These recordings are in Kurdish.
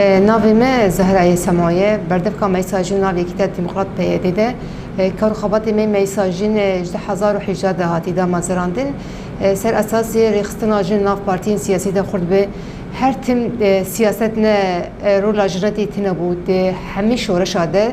Navê me Zehra yê Sema ye. Berdevka Meysa Jin nav Yekîtiya Demokrat PYD'ê de kar û xebatê me Meysa Jin ji du hezar û hejda de hatî damezirandin. Ser esasê rêxistina jin nav partiyên siyasî de xurt bi. Her tim siyaset ne rola jin re tê tune bû. Di hemî şoreşa de,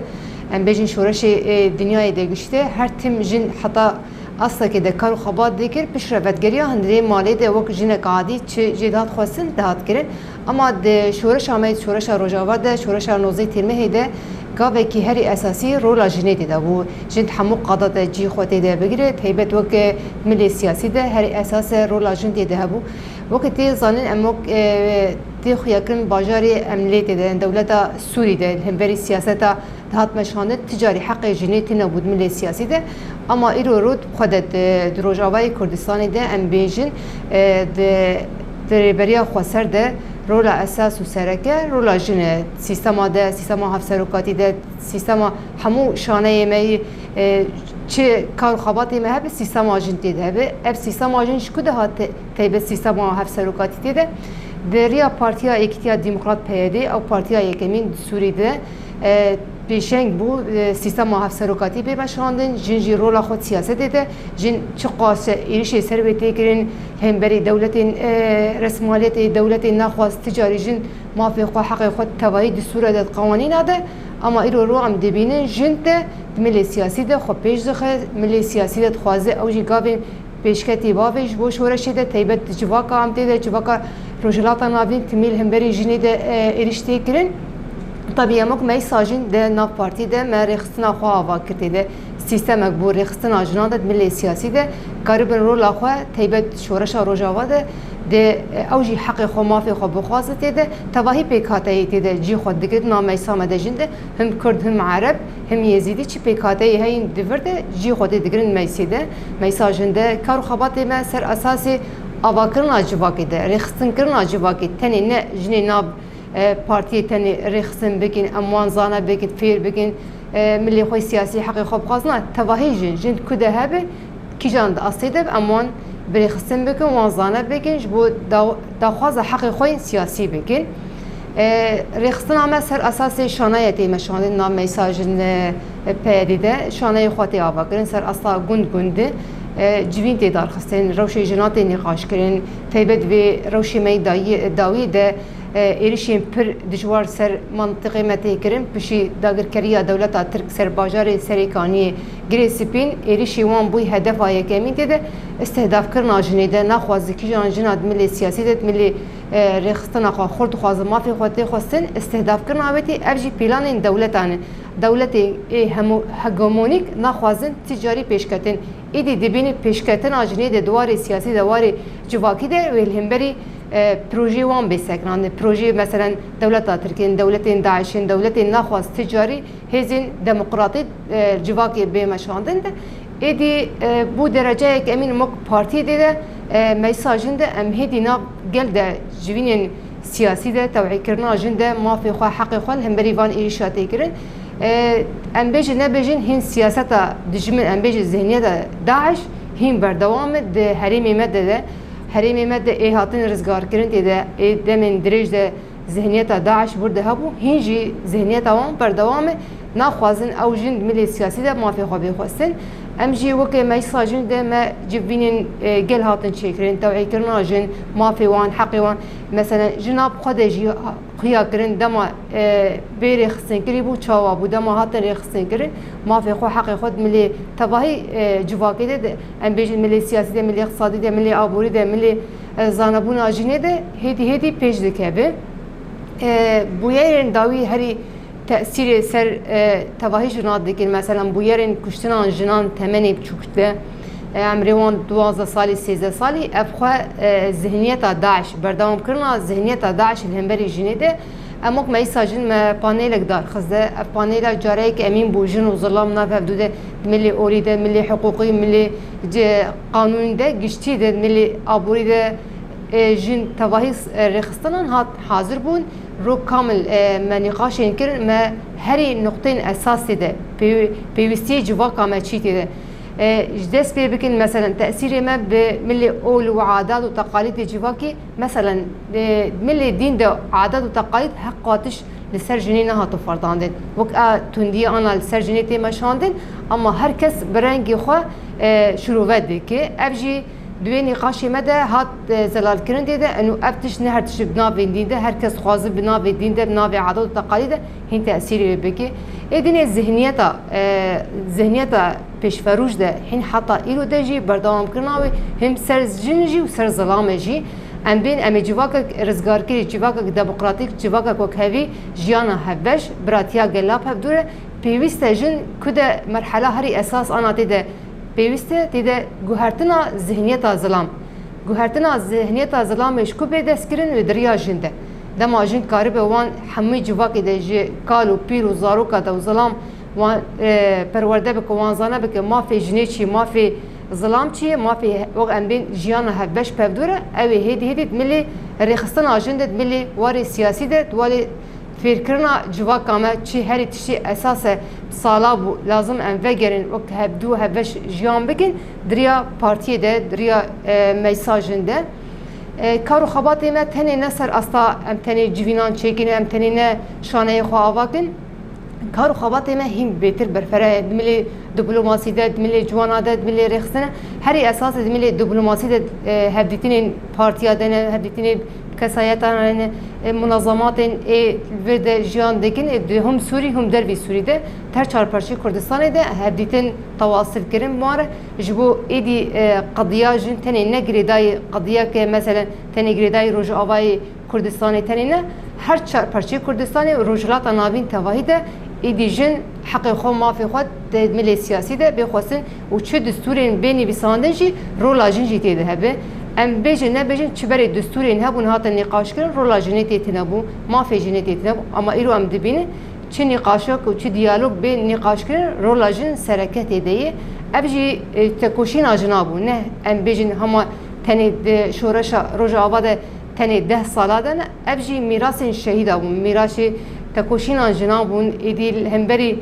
em bêjin şoreşê dinyayê de gişte, her tim jin heta astekê de kar û xebat dikir, piştre vetgeriya hundirê malê de wek jinek adî çi jê dihat xwestin dihat kirin. Ema di şoreşa me, şoreşa Rojava de, şoreşa nozey têrmehê de gavekî herî esasî rola jinê tê de bû. Jin di hemû qada de cî xwe tê de bigire, taybet wek milê siyasî de herî esas e rola jin tê de hebû. Wek tê zanîn em wek tê xuyakirin bajarê em lê tê de in dewleta Sûrî de li hemberî siyaseta Dihat meşxandin ti carî heqê jinê tîne got min lê siyasî de ama îro rot bi xwe de di Rojavayê Kurdistanê de em bêjin di di rêberiya xweser de rola esas û sereke rola jin e sîstema de sîstema hevserokatî de sîstema hemû şaneyê me yî çi kar û xebatê me hebe sîstema jin tê de hebe ev sîstema jin ji ku de hate taybet sîstema hevserokatî tê de di riya Partiya Yekîtiya Demokrat PYD ew partiya yekemîn di Sûrî de Pêşeng bû sîstema hevserokatî bê veşandin, jin jî rola xwe di siyasetê de, jin çiqas êrişê ser wê tê kirin, hemberî dewletên resmaliyetê, dewletên naxwaz ti carî jin mafê xwe, heqê xwe di tevayî distûra de, di qewanîna de ama îro rû em dibînin jin te di milê siyasî de xwe pêş dixe, milê siyasî de dixwaze ew jî gavên Pêşketî bavê ji bo şoreşê de taybet di civaka em tê de civaka Rojhilata Navîn timîl hemberî jinê de êrîş tê kirin. Tevî emok mey sajîn di nav partî de me rêxistina xwe ava kir tê de sîstemek bo rêxistina jinan de di milê siyasî de karibin rola xwe taybet di şoreşa rojava de dê ew jî heqê xwe mafê xwe bixwaze tê de tevahî pêkhateyê tê de cî xwe digrin na meysa me de jin de him kurd him ereb him yêzîdî çi pêkhateyê heyîn di vir de cî xwe tê digrin meysê de. Mesajên de kar û xebatê me ser esasê avakirina civakê de, rêxistinkirina civakê tenê ne jinê nav partiyê tenê rêxistin bikin, em wan zana bikin, fêr bikin, milê xwe siyasî heqê xwe bixwazin. Na, tevahî jin, jin di ku de hebe, kîjan di astê de bi em wan birêxistin bikin, wan zana bikin, ji bo daxwaza heqê xwe yên siyasî bikin. Rêxistina me ser esasê şanayetê me şandin na mesajên Peyedê de şaneyê xwe tê avakirin ser asta gund gund civîn tê darxistin, rewşê jinan tê nîqaşkirin. Taybet vê rewşê me yê dawiyê de êrişên pir dijwar ser mantiqê me tê kirin. Piştî dagirkeriya dewleta Tirk ser bajarê Serêkaniyê, Girê Spîn êrişê wan bûy hedefa yekemîn. Tê de îstihdafkirina jinê de naxwaze kîjan jina di milê siyasî de di milê rêxistina xwe xurt dixwaze mafê xwe tê xwestin. Îstihdafkirina wê tê ev jî pîlanên dewletan in. Dewletên ê hemû hegemonîk naxwazin ti carî pêşketin. Îdî dibînin pêşketina jinê di dwarê siyasî de warê civakî de wê li hemberî pirojeyê wan bê sekinandin. Pirojeyê meselen dewleta Tirk yên, dewletên DAIŞ yên, dewletên naxwaz ti carî hêzên demokratîk civakê bê meşandin de êdî bû dereceyek em în mok partî dê de meclisa jin de em hêdî nav gel de civînên Siyasî de tewhîdkirina jin de mafê xwe, heqê xwe li hemberî van êrîşa tê kirin. Em bêjin nebêjin hîn siyaseta dijmin, em bêjin zihniyeta DAIŞ hîn berdewam e di herêmê me de de. Herêmê me de ê hatin rizgarkirin tê de, ê demên dirêj de zihniyeta DAIŞ wir de hebû, hîn jî zihniyeta wan berdewam e. Naxwazin ew jin di milê siyasî de mafê xwe bê xwestin. Em jî weke Meclisa Jin de me civînên gel hatin çêkirin, tewhîdkirina jin, mafê wan, heqê wan. Mesele ji nav xwe de jî xuya kirin dema bê rêxistinkirin bû çawa bû dema hatin rêxistinkirin mafê xwe heqê xwe milê tevahî civakê de em bêjin milê siyasî de milê iqtisadî de milê aborî de milê zanebûna jinê de hêdî hêdî pêş dikeve bûyerên dawî herî tesîrê ser tevahî jinan dikin meselan bûyerên kuştinan jinan temenê biçûk de emrê wan duwazdeh salî sêzdeh salî ev xwe zihniyeta daş berdewam kirina zihniyeta daş li hemberî jinê de em wek me îsa jin me panêlek darxiz de ev panêla careyek emîn bû jin û zilam nav hevdû de milê orî de milê hiqûqî milê qanûnî de giştî de milê aborî de jin tevahî rêxistinan hat hazir bûn Rok Kamil, Me nîqaşên kir, me herî nuqteyên esasî de pêwîstiyê civaka me çî tê de ji dest pê bikin, meselen tesîrê me bi milê ol û adat û teqalîdê civakî, meselen di milê dîn de adat û teqalîd heq qatiş li ser jinê nehato ferdandin, wek a tundiya ana li ser jinê tê meşandin, ema her kes bi rengê xwe şirove dike, ev jî. Di wê nîqaşê me de hat zelalkirin dê de enû ev tişt ne her tişt e di navên dîn de her kes xwazi bi navê dîn de bi navê adet û teqalîd de hîn tesîrê wê bike. Ê dinê zihniyeta zihniyeta pêşverûj de hîn heta îro de jî berdewamkirina wê him ser jin jî û ser zilame jî em bên em ê civakek rizgarkirî, civakek demokratîk, civakek wekhevî jiyana hevbeş, biratiya gelav hevdûre pêwîst e jin ku de merhela herî esas ana tê de Pêwîst e tê de guhertina zihniyeta zilam, guhertina zihniyeta zilamê ji ku bê destkirin li diriya jin de. Dema jin karibe wan hemûyî civakê de ji kal û pîr û zarokê de û zilam wan perwerde bike, wan zana bike mafê jinê çi ye, mafê zilam çi ye, mafê wek em bên jiyana hevbeş pevdûr e, ew ê hêdî hêdî di milê rêxistina jin de, di milê warê siyasî de, di warê Fêrkirina civaka me çi herî tiştî esas e, sala bû lazim em vegerên wek hevdû hevbeş jiyan bikin di riya partiyê de, di riya meysajen de. Kar û xebatê me tenê ne ser asta em tenê civînan çêkin, em tenê ne şaneyê xwe ava kin. Kar û xebatê me hîn bêtir berfere ye. Di milê diplomasî de, di milê ciwana de, di milê rêxistina herî esasê di milê diplomasî de hevdîtinên partiya de ne, hevdîtinên Kesayetên ê munezematên ê li vir de jiyan dikin ê di hûm Sûrî hûm dervî Sûrî de ter çarparçeyê Kurdistanê de hevdîtin tawasil kirin mar ji bo êdî qediya jin tenê ne girêdayî qediyeke meselen tenê girêdayî Rojavayê Kurdistanê tenê ne her çarparçeyê Kurdistanê û Rojhilata Navîn tevahî de êdî jin heqê xwe mafê xwe di milê siyasî de bê xwestin û çi distûrên bê nivîsandin jî rola jin jî tê de hebe, em bêjin nebêjin çi berê distûrên hebûn hatin nîqaşkirin rola jinê tê tinebû, mafê jinê tê tinebû ama îro em dibînin çi nîqaşok û çi diyalog bê nîqaşkirin rola jin sereke tê de yê ev jî tekoşîna jina bû neh em bêjin hema tenê di şoreşa rojava de tenê deh sala de ne ev jî mîrasên şehîda bûn mîrasê tekoşîna jina bûn êdî li hemberî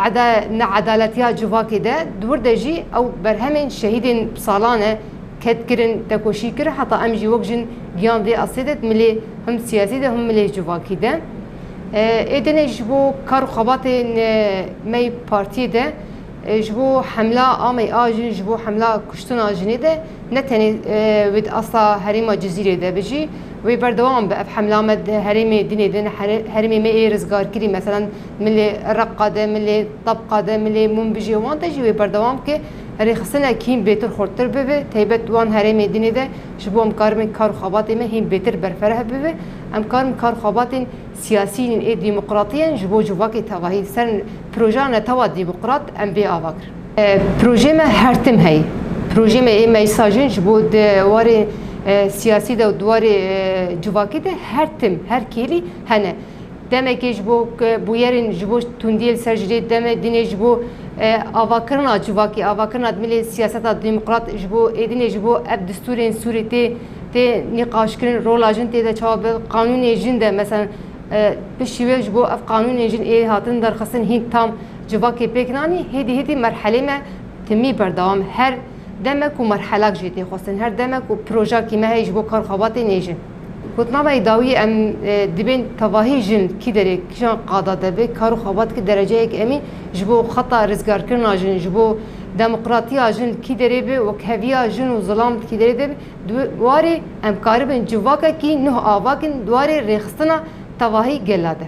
Eda needaletiya civakê de di wir de jî ew berhemên şehîdên salan e ket kirin, tekoşî kir heta em jî wek jin giyan vê astê de milê him siyasî de him milê civakî de ê dinê ji bo kar û xebatên me yê partiyê de ji bo hemla ameyî a jin ji bo hemla kuştina jinê de ne tenê wê di asta herêma Cizîrê de bi jî wê berdewam bi ev hemla me di herêmê dinê din herêmê me yê rizgarkirî meselan Milê Reqqa de, milê Tabqa de, milê Munbijê wan de jî wê berdewam bike rêxistina kîn bêtir xurttir bibe, taybet wan herêmê din ê de ji bo em karibin kar û xebatên me hîn bêtir berfereh bibe, em karibin kar û xebatên siyasî yên ê demokratiyen ji bo civakê tevahî ser projeya netewa demokrat em bê ava kirin. Projeyê me her tim heye. Projeyê me ê meclisa jin ji bo di warê siyasî de û di warê civakî de her tim, her kêlî hene. Demekê ji bo ku bûyerên ji bo tundiyê li ser jirê demê dinê ji bo avakirina civakê, avakirina dimilê siyaseta demokrat ji bo êdinê ji bo ev distûrên Sûrê tê tê nîqaşkirin rola jin tê de çawa bi qanûnê jin de mesela bi şîwê ji bo ev qanûnên jin ê hatin derxistin hîn tam civakê pêk nanî hêdî hêdî merhelê me timî berdewam her Deme ku merhelak jî tê xwestin, her deme ku proja kî me heye ji bo kar xebat ê nê jin. Gotnameyê dawî em dibên tevahî jin kî derê kîjan qada de be kar û xebat ki dereceyek emîn ji bo xeta rizgarkirina jin ji bo demokratiya jin kî derê be wekheviya jin û zilam kî derê de be di warê em karibin civakekî nuh avakin di warê rêxistina tevahî gela de.